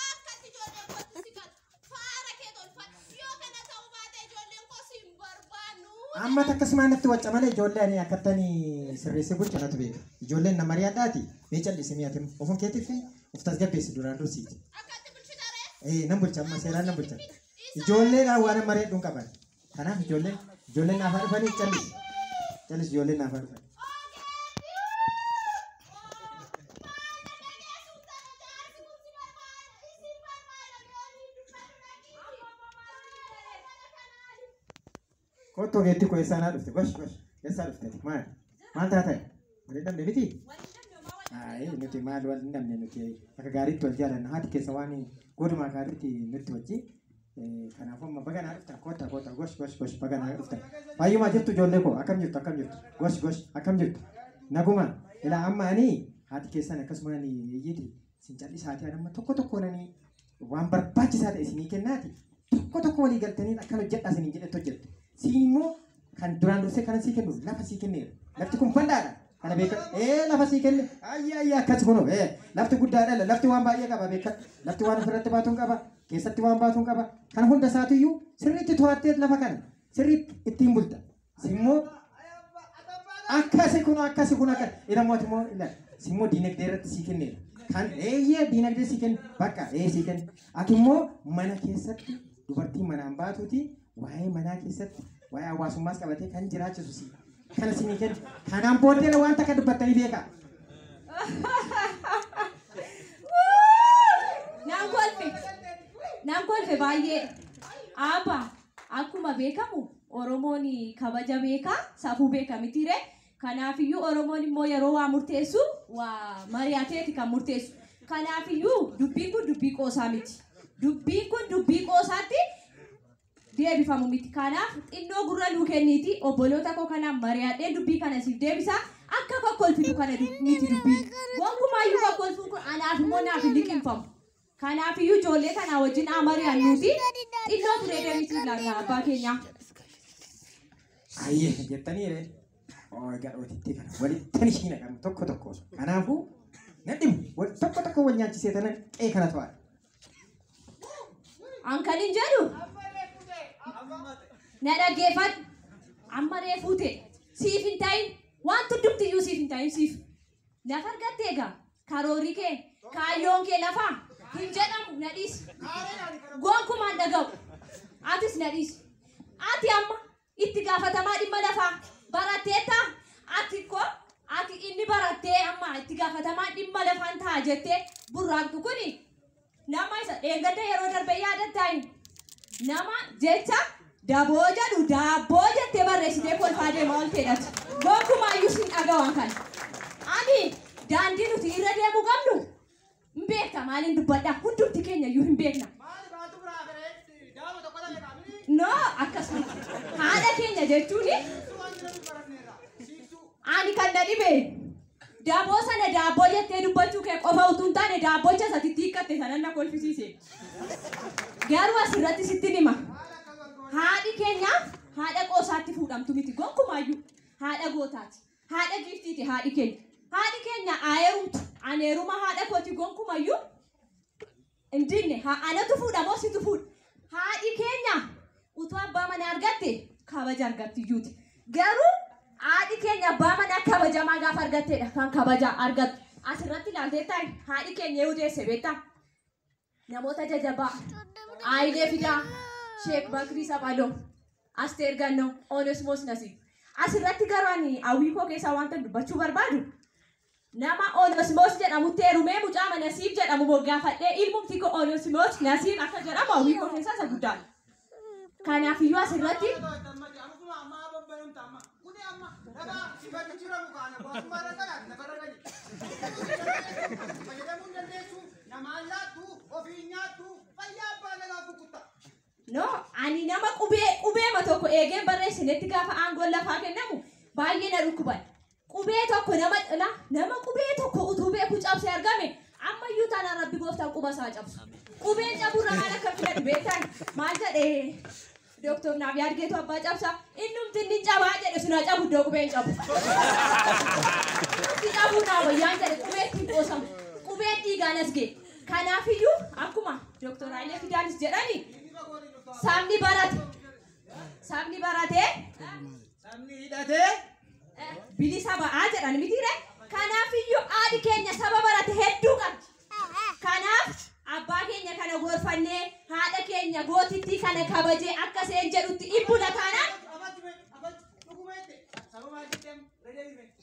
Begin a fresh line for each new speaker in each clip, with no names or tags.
Akkatti ijoolleen kootti si gatu. Faara kee tolfadhu. Yoo kana ta'uu baate ijoolleen koo si hin barbaannu. Amma takka simaa natti wacca malee ijoollee ani akkattani sirreessee bulchu natu beeka. Ijoolleen na mari'adhaati mee cal'isi mi'a tim ofum keetiif of tasgabbeessi duraan dursiiti. Akkatti bulchitaree? Ee nan bulcha amma seeraan nan bulcha. Ijoolleedhaan waan mari'adhuun qaban. Kanaaf ijoollee ijoollee naaf dhufanii callis callis ijoollee naaf dhufanii. Kottu ogeetti koo eessaa naa dhufte gosh gosh eessaa dhufte ati maal maal taate wal hin dhabne miti. Ayi nuti maal wal hin dhabne nuti akka gaariitti wal jaalanna haati keessa waan goduma gaariitti nutti wajjin Kanaafuu amma baga naa dhuftan kotta kotta gosh gosh gosh baga naa dhuftan. Fayyumaa jirtu ijoollee koo akkam jirtu akkam jirtu gosh gosh akkam jirtu nagumaan ilaa amma ani haati keessan akkasuma ani iyyiti sin callisaati ani amma tokko tokkoon ani waan barbaachisaa ta'e isinii kennaati tokko tokko walii galtanii akkan hojjedhaa isiniin jedhetti hojjettu siin immoo kan duraan dursee kanan sii kennu lafa sii kenneera lafti kun bal'aadha kana beekan ee lafa sii kenne ayya ayya akkas kunoo ee lafti guddaadha lafti waan baay'ee qaba beekan lafti waan ofirratti baatuun qaba keessatti waan baatuun qaba. Kana hunda isaatiyyuu sirriitti to'atteet lafa kana sirriitti ittiin bulta. Simmoo akkasi kun akkasi kun akka ilamoo ati immoo ilaali. Simmoo diinagdee irratti sii kenneera. Kan eeyyee diinagdee sii kenne bakka ee sii kenne. Ati immoo mana keessatti dubartii manaan baatuuti Waa'ee manaa keessatti waa'ee hawaasummaas qabatee kan jiraachisu si. Kana si ni kenna. Kanaan booddee waan takka dubbattanii beekaa.
Naan kolfe. Naan kolfe baay'ee. Aabba akkuma beekamu Oromoon kabaja beekaa safuu beeka mitiiree. Kanaafiyyuu Oromoon immoo yeroo waa murteessu waa mari'ateeti kan murteessu. Kanaafiyyuu dubbiin kun dubbii qoosaa miti. Dubbiin kun dubbii qoosaatti deebifamu miti. Kanaaf xinnoo gurra nuu kenniiti obboloota koo kanaan mari'adheen dubbii kana siif deebisa. Akka kokkolfitu kana dub- miti dubbii. Gonkumaayyuu kokkolfuun kun anaaf immoo naaf hin liqimfamu. Kanaafiyyuu ijoollee kanaa wajjin haa mari'annuuti xinnoo turee deebisuu ilaalla abbaa keenyaa. Ayyee
jettanii ree. Oo egaa dhootitti kana walitti ishii naqamu tokko tokko osoo. Kanaafuu na dhibu wal tokko tokko wal nyaachisee tanan qe'ee kana to'ata.
An kan hin jedhu na dhaggeeffadhu. Amma reefuu ta'e siif hin ta'in waan hundumtiyyuu siif hin ta'in siif. Lafa argatte egaa karoorri kee kaayyoon kee lafaa hin jedhamu na dhiisi. Gonkumaan dhaga'u. Atis na dhiisi. Ati amma itti gaafatamaa dhimma lafaa baratteetta. Ati ko ati inni barattee amma itti gaafatamaa dhimma lafaan ta'a jettee burraaqxu kuni Nama isa dheengadda yeroo darbe yaadattaa inni nama jecha daboo jedhu daabboo jettee barreessitee kolfaa deemaa olteedhatu. Gonkumaayyuu sin dhagawaan kana. Ani daandii nuti irra deemuu qabnu hin beekta maaliin dubbadha hundumti keenya iyyuu hin beekna. No akkasuma haadha keenya jechuun ani kan na dhibe Daboo sana daabboo jettee dubbachuu kee qofa utuu hin taane daabbochas ati itti hiikkatte sanan na kolfisiise. Garuu asirratti sittin hima. Haadhi keenya haadha qoosaatti fuudhamtu miti gonkumaayyuu. Haadha gootaati. Haadha giiftiiti haadhi keenya. Haadhi keenya haa heerumtu. Ani heeruma haadha kooti gonkumayyuu Hin dinne haa anatu fuudha moo situ fuudha? Haadhi keenya utuu abbaa manaa argatte kabaja argattiyyuuti. Garuu haadhi keenya abbaa manaa kabajamaa gaafa argatteedha kan kabaja argattu. Asirratti ilaalteettaa haadhi keenya eeyu deesse beektaa? Namoota jajabaa Ayilee Fidaa, Sheek Bakrii Saphaloo, Asteer Gannoo, Onesmoos Nasiib. Asirratti garuu ani hawwii koo keessaa wanta dubbachuu barbaadu Nama Onesmos jedhamutti heerumee mucaa ma Nasiib jedhamu moggaafadhee ilmumti koo Onesmos Nasiib akka jedhamu hawwii koo keessaa isa guddaadha. Kanaafiyyuu asirratti Namaan laattu, ofiin nyaattu, fayyaa abbaa nagaa kukkutta. No, ani nama qubee qubeema tokko eegeen barreessinetti gaafa aangoon lafaa kennamu baay'ee na dhukkuban. Qubee tokko nama na, nama qubee tokko utuu beeku cabse argame ammayyuu taanaan rabbi gooftaan quba isaa cabsu. Qubeen caburra maal akka filatu beektan maal jedhe Dooktor naaf yaadgeetu abbaa cabsa innumti inni cabaa jedhe sun haa cabu iddoo qubeen cabu. Itti cabuu naa wayyaan jedhe qubeetti hin qoosamu. Qubeen dhiigaan as ga'e. Kanaafiyyuu akkuma Dooktor Hayilee Fidaanis jedhani sabni barate sabni barate
Sabni hidhatee eh, bilisa
ba'aa jedhan mitiire kanaafiyyuu haadhi keenya saba barate hedduu qabdi. Kanaaf abbaa keenya kana gorfannee haadha keenya gootittii kana kabajee akka seen jedhutti dhibbula taanaan qabachuu qabachuu dhuguma jette sababa addatti amma ragee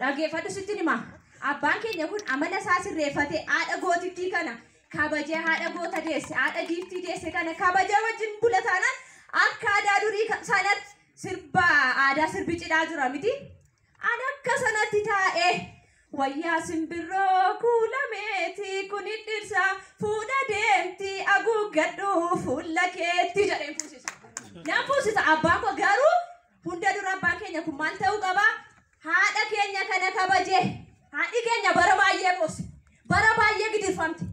Dhaggeeffadhu sittin hima. Abbaan keenya kun amala isaa sirreeffatee haadha gootittii kana kabajee haadha goota deesse haadha giiftii deesse kana kabajee wajjin bula taanaan akka aadaa durii ka- sanatti sirba aadaa sirbi cidhaa jira miti. An akka sanatti taa'ee wayyaa simbirroo kuulameeti kun dhirsa fuudha deemti aguuggadhu fuula keetti jedheen fuusisa. Nan fuusisa abbaan koo garuu hunda dura abbaan keenya kun maal ta'uu qabaa? Haadha keenya kana kabaje. Haadhi keenya bara baay'ee boosse. Bara baay'ee gidirfamte.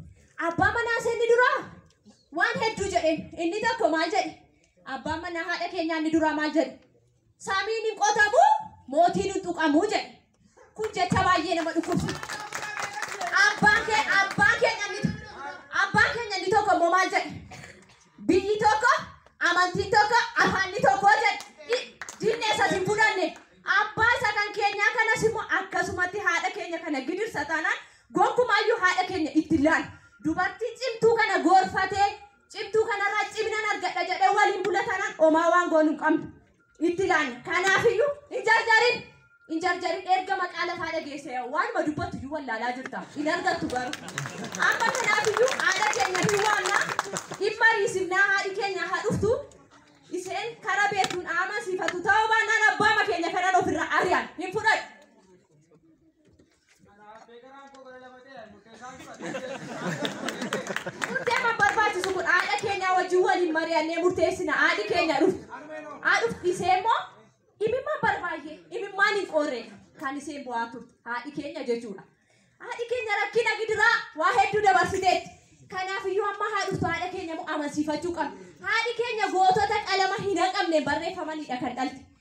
Abbaan manaa ishee inni duraa waan hedduu jedheen. Inni tokko maal jedhe? Abbaan manaa haadha keenyaa inni duraa maal jedhe? Samiin hin qotamu, mootiin hin tuqamu jedhe. Kun jecha baay'ee nama dhukkubsiisa. Abbaan kee abbaan keenya inni abbaan keenya inni tokko immoo maal jedhe? Biyyi tokko, amantiin tokko, afaanni tokko jedhe. Diinni isas hin fudhanne. Abbaa isa kan keenyaa kanas immoo akkasumatti haadha keenya kana gidirsa taanaan gonkumaayyuu haadha keenya itti laal. Dubartii cimtuu kana goorfatee cimtuu kanarraa ciminan argadha jedhee waliin bula taanaan omaa waan goonu hin qabnu. itti laanne kanaafiyyuu hin jarjarin hin jarjarin erga maqaa lafaa dhageesse waanuma dubbattu iyyuu wallaalaa jirta hin argattu garuu amma kanaafiyyuu haadha keenya hin waamna dhimma riisifnaa haadhi keenya haa dhuftu isheen kara beektuun aama siifatu ta'uu baannaan abbaama keenya kanan ofirraa ari'an hin fudhadhu Murteema barbaachisu kun haadha keenya wajjin waliin mari'annee murteessina. Haadhi keenya dhufti. Haa dhufti ishee immoo imimmaan barbaay'ee imimmaan hin qoorreedha. Kan isheen bu'aa turte haadhi keenya jechuudha. Haadhi keenya rakkina gidiraa waa hedduu dabarsiteetti. Kanaaf iyyuu amma haa dhuftu haadha keenya immoo amansiifachuu qabna. Haadhi keenya gootota qalama hin haqamneen barreeffamanidha kan dhalte.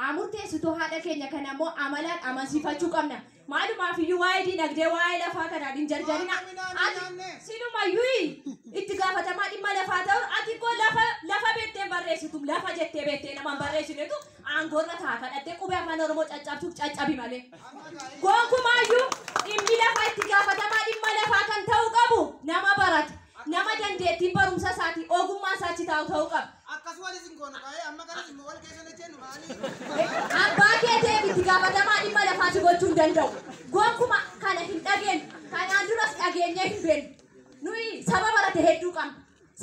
haa murteessitu haadha keenya
kana immoo amalaan amansiifachuu qabna. Maalumaaf iyyuu waa'ee diinagdee waa'ee lafaa kanaan hin jarjarina. Silumayyuu itti gaafatamaa dhimma lafaa ta'uun ati immoo lafa lafa beektee barreessitu lafa jettee beektee namaan barreessinetu aangoorra ta'a kadhattee qubee afaan oromoo caccabsuuf caccabi malee. Gonkumaayyuu dhimmi lafaa itti gaafatamaa dhimma lafaa kan ta'uu qabu nama barate. Nama dandeettiin barumsa isaatii, ogummaa isaa achi taa'u ta'uu qaba. Akkas walis hin goonu
kaa ee amma garas immoo wal keessa hin ejjennu maalii. Abbaa kee ta'eef
itti gaafatamaa dhimma lafaa si gochuu hin danda'u. Gonkuma kana hin dhageenyu. Kanaan duras dhageenyee hin beennu. Nuyi saba barate hedduu qabna.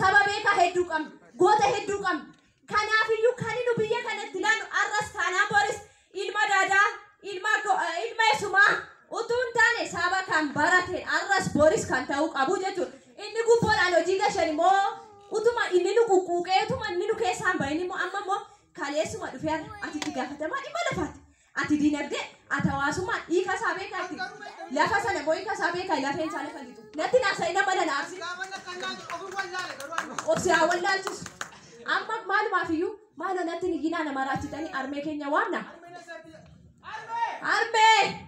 Saba beekaa hedduu qabna. Goota hedduu qabna. Kanaafiyyuu kani nu biyya kanatti laannu arras taanaan boris ilma Dadaa, ilma Go- eh, ilma Esumaa utuu hin taane saba kan barateen arras boris kan ta'uu qabu jechuudha. Inni gubboodhaan hojii gashan immoo utuma inni nu quqquuqee utuma inni nu keessaan bahin immoo amma immoo kaleessuma dhufee har'a ati itti gaafatamaa dhimma lafaati. Ati dinagdee, ati hawaasummaa hiika isaa beektaa ati? Lafa sana immoo hiika isaa beektaa lafeen isaa lafa lixu? Natti hin haasa'in amma na na aarsin. Of si haa wallaalchisu. Amma maalumaaf iyyuu maaloo natti hin iyyinaa na maraachitanii armee keenya waamna. Armee!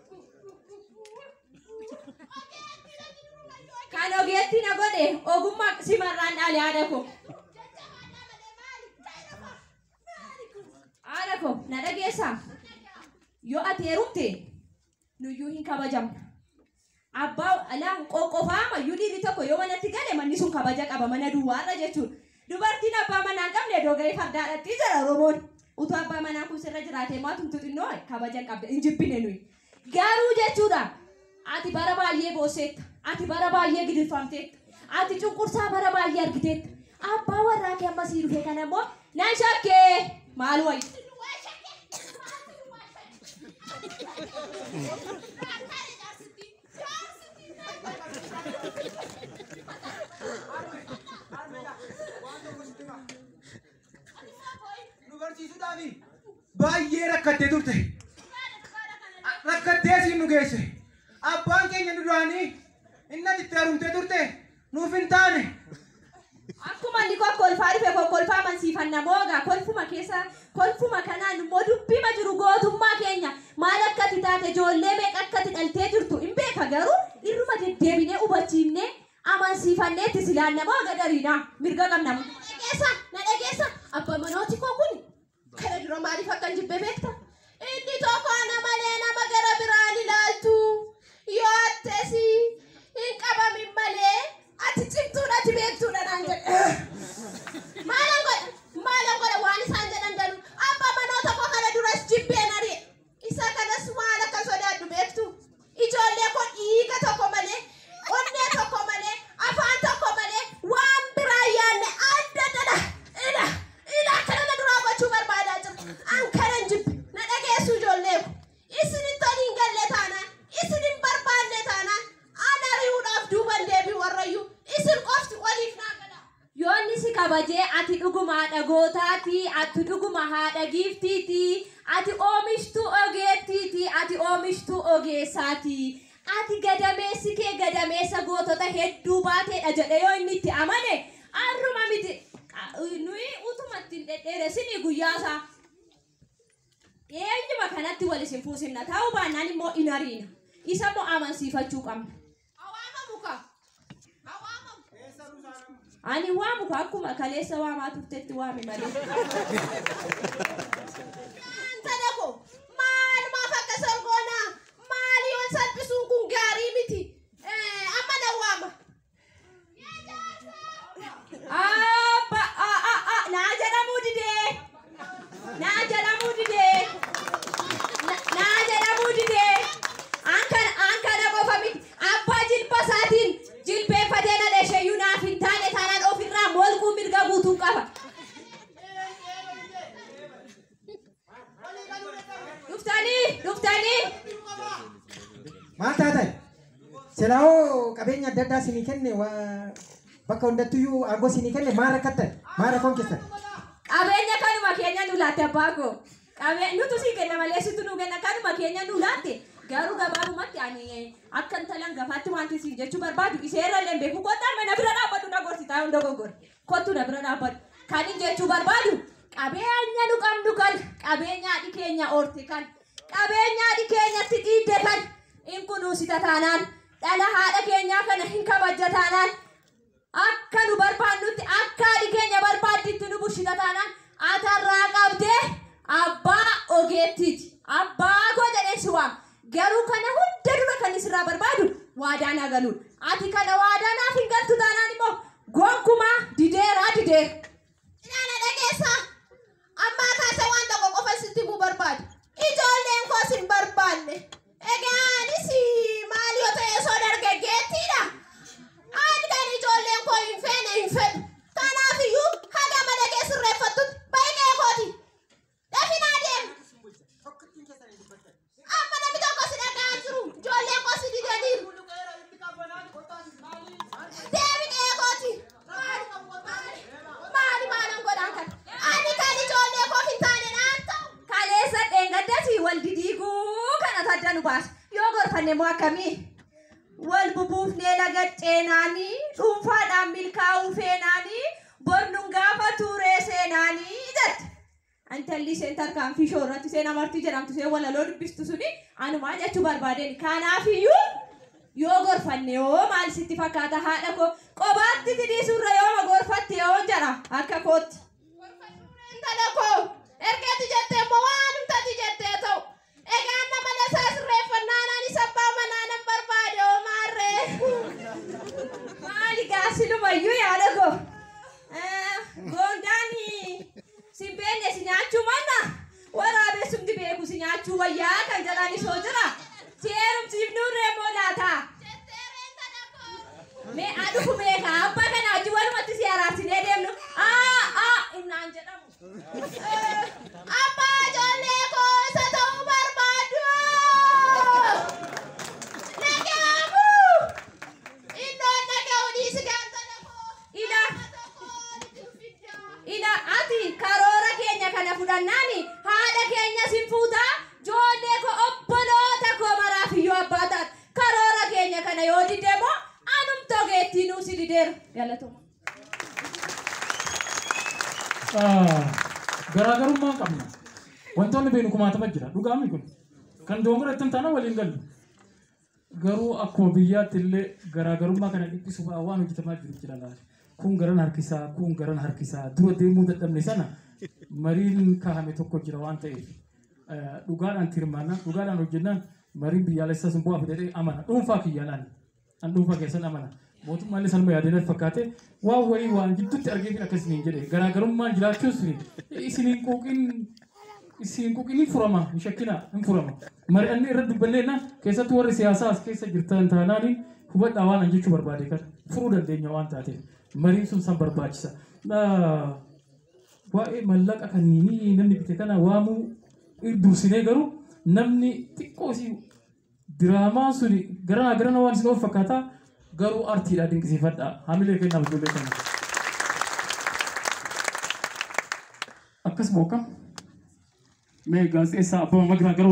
Kan ogeetti na godhe ogummaa simarraan dhaale haadha koo. Haadha koo na dhageessaa? Yoo ati heerumte nuyyuu hin kabajamna. Abbaa alaa qoqqofaama iyyuu dhiirri tokko yoo manatti gale manni sun kabaja qaba mana duwwaarra jechuudha. Dubartiin abbaa manaa hin qabne doga'ee fardaa dhaqxi jedha Oromoon. Utuu abbaa manaan kun sirra jiraatee moo atumtuu xinnoo kabaja hin qabda. Hin jibbine nuyi. Garuu jechuudha ati bara baay'ee boosseetta. Ati bara baay'ee gidirfamteetta. Ati cunqursaa bara baay'ee argiteetta. Abbaa warraa kee amma sii dhufe kana immoo nan shakke maal wayya.
nu barsiisuudhaafi baay'ee rakkattee turte. Rakkattee siin nu geesse. Abbaan keenya nu duraanii inni ati itti haaromtee turte nuuf hin taane.
Akkuma inni kokkolfaa dhufe kokkolfaa amansiifanna mooga kolfuma keessa kolfuma kanaan immoo dubbima jiru gootummaa keenya maal akkati taate ijoollee meeqa akkati dhaltee jirtu hin beeka garuu irruma deddeebinee hubachiifnee amansiifannee itti silaanna mooga dariidha mirga qabna. Na dhageessa na dhageessa abba manooti koo kun Kana dura maaliif akkan jibbe beekta? Inni tokko ana malee nama gara biraan ilaaltu. Yoo attes hin qabamin malee ati cimtuudha ati beektuudha naan jedhe. Maalan godha? Maalan godha waan isaan jedhan danuu? Abba manoota koo kana duras jibbeen ari'e. Isa kanas maal akka sodaadhu beektu? Ijoollee koo dhiiga tokko malee, onnee tokko malee, afaan tokko malee waan biraa yaadne adda addadha. Ila, ila akkana na duraa gochuu barbaadaa jira. An kanan jibbe, na dhageessu ijoollee ko. Isinitti ani hin galle taanaan, isin hin barbaanne taanaan, an ari'uudhaaf duuban deebi'u warrayyuu. Isin qofti waliif naa gala. Yoo inni si kabaje, ati dhuguma haadha gootaa ti, ati dhuguma haadha giiftii ti, ati oomishtuu ogeettii ti, ati oomishtuu ogeessaa ti, ati gadameessi kee gadameessa gootota hedduu baatee dha jedhee yoo inni itti amane, har'uma miti, nuyi utuma itti hin dhedheeressinii guyyaa isaa dhiyeenyuma kanatti wal isin fuusinna, ta'uu baannaan immoo in ariina. Isa immoo amansiifachuu qabna. Ani waamu ka akkuma kaleessa waamaa turtetti waami malee. Intala koo maal maaf akka sorgoonaa maal yoon salphisuun kun gaarii miti. Eh, Amma na waama. Abba a a a naa jedhamuu didee naa jedhamuu didee na- naa jedhamuu didee an kana an kana qofa miti abbaa jilba isaatiin jilbeeffatee na dhasheeyyuu naaf hin taane taanaan ofirraa molquu mirga guutuun qaba. Dhuftanii, dhuftanii.
Maal taatan? Silaawoo qabeenya adda addaa sinii kenne waa bakka hundattuyyuu aangoo sinii kenne maal rakkattan? Maal rakkoon keessan? Qabeenya
kanuma keenya nu laatte abbaa koo. Qabee nutu sii kenna malee situ nu kenna kanuma keenya nu laatte. Garuu gabaabumatti ani akka intalan gafaatti wanti sii jechuu barbaadu iseerra illee hin beeku kottaa mana bira dhaabbadhu na gorsitaa hunda goggore. Kottu na bira dhaabbadhu. Kanin jechuu barbaadu qabeenya nu qabnu kana, qabeenya haadhi keenya horte kana, qabeenya haadhi keenya itti dhiidde kana hin kunuunsita taanaan, dhala haadha keenyaa kana hin kabajja taanaan, akka nu barbaannutti akka haadhi keenya barbaadditti nu bulchita taanaan atarraa qabdee abbaa ogeettiiti. Abbaa koo jedheen si waama. Garuu kana hunda dura kanin sirraa barbaadu waadaa naa galuudha. Ati kana waadaa naaf hin galtu taanaan immoo gonkumaa dideera dideera. Ilaa na dhageessaa. Ammaa kaasee waan tokko qofan sitti himuu barbaada. Ijoolleen koos hin barbaanne. Egaa anis maal yoo ta'e osoo dargaggeettiidha. Ani kan ijoolleen koo hin feene hin fedhu. Kanaafiyyuu haga mana kee sirreeffattutti baay'ee kooti. Dafinaa deem. Amma namni tokko si dhaga'aa hin jiru. Ijoolleen koo si didaniiru. Deemin eegooti. Maali maalan godhaan kana? Ani kan ijoollee koof hin taane naan ta'u. Kaleessa dheengaddas wal didiiguu kana tadda nu baase. Yoo gorfanne immoo akkamii? Wal bubuufnee laga ceenaani, dhuunfaadhaan milkaa'uu feenaani, bor nun gaafatuu ree seenaani jette. Intalli isheen tarkaanfii ishoo irratti isheen amartii jedhamtu isheen walaloo dubbistu suni anumaa jechuu barbaadeen. Kanaafiyyuu yoo gorfanne hoo maal sitti fakkaata haadha koo qobaatti si dhiisurra yooma gorfatte hoo jedha akka kootti. Gorfadhuuree intala koo ergati jettee immoo waanumtati jettee ta'u. Egaa amma mana isaa sirreeffannaa anaanis abbaa manaa nan barbaade hoo maarree. Maali gaa silumayyuu yaada koo. Eh, Goondaan sin beekne si nyaachuu manna waraabessumti beeku si nyaachuu wayyaa kan jedhanis hoo jira. Si heerumsiifnuu reeboo laata. Mee adufu beeka abbaa kana wajjin walumatti si araarsinee deemnu. Aa aa innaan jedhamu. Abbaa ijoollee koo isa ta'uu barbaaddu dhaga'amu iddoon dhaga'u dhiisi gaantana koo Ilaa. Ila ati karoora keenya kana fudhannaan haadha keenya sin fuuta joollee koo obboloota koo maraaf iyyuu abbaa taat karoora keenya kana yoo didde immoo anumtoo geettii nuu si dideera galatoma.
Garaagarummaa hin qabnu. Wantoonni beeknu kumaatama jira. Dhugaa miti kun. Kan doongora ittiin taana waliin galu. Garuu akkuma biyyaatti illee garaagarummaa kana dhiphisu ba'a waan hojjetamaa jiru jira laata. Kun garan harkisaa, kun garan harkisaa. Dura deemuu dadhabne sana mariin kaa'ame tokko jira waan ta'eef. Dhugaadhaan tirmaannaan, dhugaadhaan hojjennaan mariin biyyaalessaa sun bu'aa fida jedhee amana. Dhuunfaa kiyyaan ani. An dhuunfaa keessan amana. Mootummaallee sanuma yaadee natti fakkaate waan wayii waan gidduutti argeefin akka isiniin jedhe garaagarummaan jiraachuus isiniin quuqin isiin quuqin hin furama hin shakkina hin furama. Mari'anne irra dubbanneenna keessattuu warri siyaasaa as keessa jirtan taanaan hubadhaa waan an jechuu barbaade kan furuu dandeenya waan taateef mariin sun san barbaachisa. Waa'ee mallaqa kan namni bite kana waamuu dursinee garuu namni xiqqoo isii Diraamaan suni garaa garana waan isin of fakkaata garuu artiidha dinqisiifadha. Hamilee kennaaf ijoollee kana. Akkas moo akkam? Mee gaazexeessaa Abbabaa Magraa gara ol